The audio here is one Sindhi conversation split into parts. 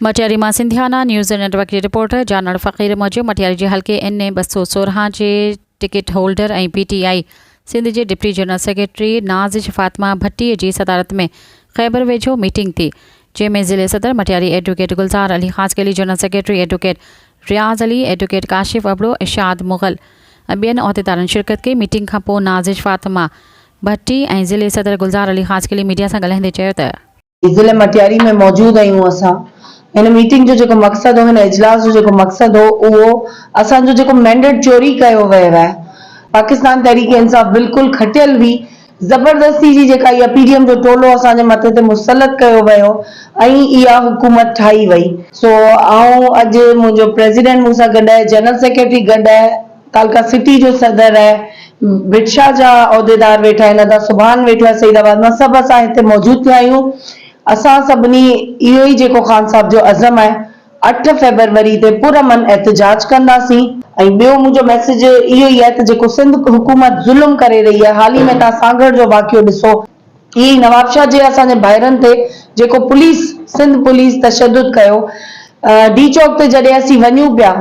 مٽياري مان سنڌيانا نيوز نيٽ ورڪ جي رپورٽر جانڻ فقير موجب مٽياري جي حلقي اين اي ٻه سؤ سورهن جي ticket holder ۽ P T I Sindh جي deputy general secretary Nazish Fatima Bhatti جي صدارت ۾ خيبر ويجهو ميٽنگ ٿي جنهن ۾ ضلعي صدر Matiari advocate Gulzar Ali Khaskheli general secretary advocate Riaz Ali advocate Kashif Abro Irshad Mughal ۽ ٻين عهديدارن شرڪت ڪئي ميٽنگ کانپوء نازش فاطمه ڀٽي ۽ ضلعي صدر گلزار علي خاصخيلي ميڊيا سان ڳالهائيندي چيو ته. ضلعي مٽياري ۾ موجود آهيون اسان هن ميٽنگ جو جيڪو مقصد هو هن اجلاس جو جيڪو مقصد هو اهو اسان جو جيڪو مينڊيٽ چوري ڪيو ويو آهي پاڪستان تحريڪ انصاف بلڪل کٽيل هئي زبردستي جي جيڪا اها پي ڊي ايم جو ٽولو اسان جي مٿي تي مسلط ڪيو ويو ۽ اها حڪومت ٺاهي وئي سو آئون اڄ منهنجو پريزيڊنٽ مون سان گڏ آهي جنرل سيڪريٽري گڏ آهي. ڪالڪا سٽي جو صدر ۽ بڊشاهه جا عهديدار ويٺا آهن، ادا سبحان ويٺو آهي سعيد آباد مان، سڀ اسان هتي موجود ٿيا آهيون، اسان سڀني اهو ئي جيڪو خان صاحب جو عزم آهي اٺ فيبروري تي پر امن احتجاج ڪنداسين، ۽ ٻيو منهنجو ميسيج اهو ئي آهي ته جيڪو سنڌ حڪومت ظلم ڪري رهي آهي، حال ئي ۾ توهان سانگهڙ جو واقعو ڏسو، ائين ئي نوابشاهه جي اسان جي ڀائرن تي جيڪو پوليس سنڌ پوليس تشدد ڪيو ڊي چوڪ تي جڏهن اسين وڃون پيا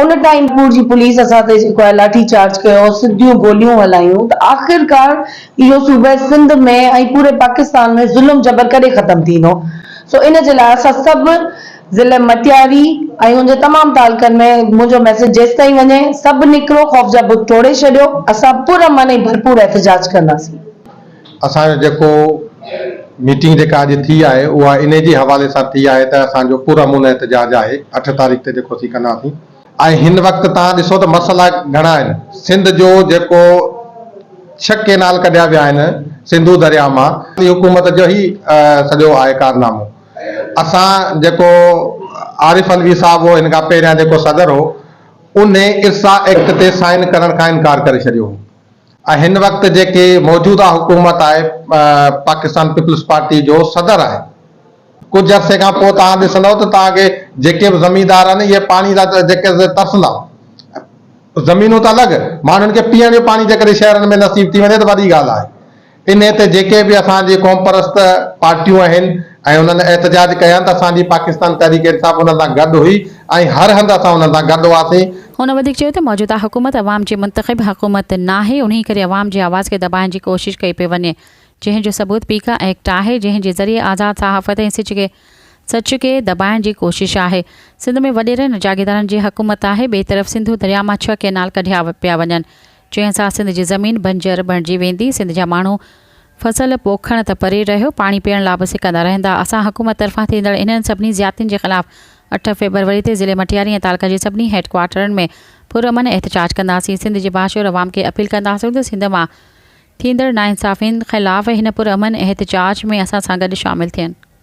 ان ٽائيم پور جي پوليس اسان تي جيڪو آهي لاٺي چارج ڪيو سڌيون گوليون هلايون ته آخرڪار اهو صوبه سنڌ ۾ ۽ پوري پاڪستان ۾ ظلم جبر ڪڏهن ختم ٿيندو سو ان جي لاء اسان سڀ ضلع مٽياري ۽ ان جي تمام تعلقن ۾ منهنجو ميسيج جيستائين وڃي سڀ نڪرو خوف جا بت ٽوڙي ڇڏيو اسان پر امن ۽ ڀرپور احتجاج ڪنداسين. اسان جو جيڪو ميٽنگ جيڪا اڄ ٿي آهي اها انهي جي حوالي سان ٿي آهي ته اسان جو پرامن احتجاج آهي اٺ تاريخ تي جيڪو اسين ڪنداسين ۽ هن وقت تهان ڏسو ته مسئلا گهڻا آهن سنڌ جو جيڪو ڇهه ڪينال ڪڍيا ويا آهن سنڌو درياء مان اهي حڪومت جو هي سڄو آهي ڪارنامو اسان جيڪو عارف علوي صاحب هو هن کان پهريان جيڪو صدر هو انهي ارسا ايڪٽ تي سائن ڪرڻ کان انڪار ڪري ڇڏيو هو ۽ هن وقت جيڪي موجوده حڪومت آهي پاڪستان پيپلز پارٽي جو صدر آهي ڪجهه عرصي کان پوء توهان ڏسندؤ ته توهان کي جيڪي به زميندار آهن اهي پاڻي لاء جيڪي ترسندا زمينون ته الڳ ماڻهن کي پيئڻ جو پاڻي جيڪڏهن شهرن ۾ نصيب ٿي وڃي ته وڏي ڳالهه آهي انهي تي جيڪي به اسان جي قومپرست پارٽيون آهن ۽ انهن احتجاج ڪيا ته اسان جي پاڪستان تحريڪ انصاف انهن سان گڏ هئي ۽ هر هنڌ اسان انهن سان گڏ هئاسين. هن وڌيڪ چيو ته موجوده حڪومت عوام جي منتخب حڪومت ناهي انهي ڪري عوام جي آواز کي دٻائڻ جي ڪوشش ڪئي پئي وڃي جنهن جو ثبوت پي ڪا ايڪٽ آهي جنهن جي ذريعي آزاد صحافت ۽ سچ کي سچ کي دٻائڻ جي ڪوشش آهي سنڌ ۾ وڏيرن ۽ جاگيدارن جي حڪومت آهي ٻئي طرف سنڌو درياء مان ڇهه ڪئنال ڪڍيا پيا وڃن جنهن سان سنڌ جي زمين بنجر بڻجي ويندي سنڌ جا ماڻهو فصل پوکڻ ته پري رهيو پاڻي پيئڻ لا به سڪندا رهندا، اسان حڪومت طرفان ٿيندڙ انهن سڀني زيادتين جي خلاف اٺ فيبروري تي ضلعي مٽياري ۽ تعلقه جي سڀني هيڊ ڪوارٽرن ۾ پرامن احتجاج ڪنداسين، سنڌ جي باشعور عوام کي اپيل ڪنداسون ته سنڌ مان ٿيندڙ ناانصافين خلاف هن پرامن احتجاج ۾ اسان سان گڏ شامل ٿين.